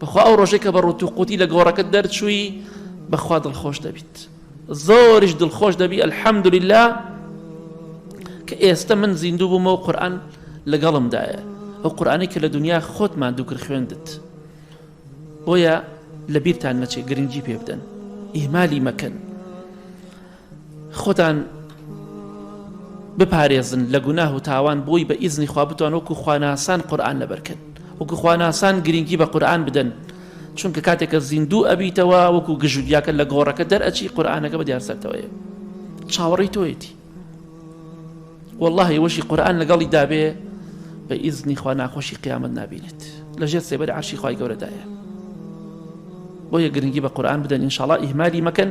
بەخوا ئەو ڕۆژێک کە بە ڕوتوقوتی لە گۆڕەکە دەرچووی بەخوا دڵخۆش دەبیت زۆریش دڵخۆش دەبی ئەلحەمدوللا کە ئێستا من زیندوو بوومە و قورآن لەگەڵمدایە ئەو قورآانی کە لە دنیا خۆتمان دووکر خوێندت بۆیە لە بیرتان نەچێت گرنگی پێ بدەن ئیمالی مەکەن خۆتان بپارێزن لە گوناه و تاوان بۆی بە ئیزنی خوا بتوان وەکو خواناسان قورآن لەبەرکەن وەکو خواناسان گرنگی بە قورآن بدەن چونکە کاتێکە زیندوو ئەبیتەوە وەکو گژودیاکە لە گۆڕەکە دەرئەچی قورآانەکە بە دیارسەرتەوەیە چاوەڕی تۆیەتی والله وەشی قورآن لەگەڵی دابێ بە ئیزنی خوا ناخۆشی قیامەت نبینێت لە ژێر سێبەر عشی خی گەورەدایە بۆیە گرنگی بە قورآن بدەن انشاءڵ ئیهمالی مەکەن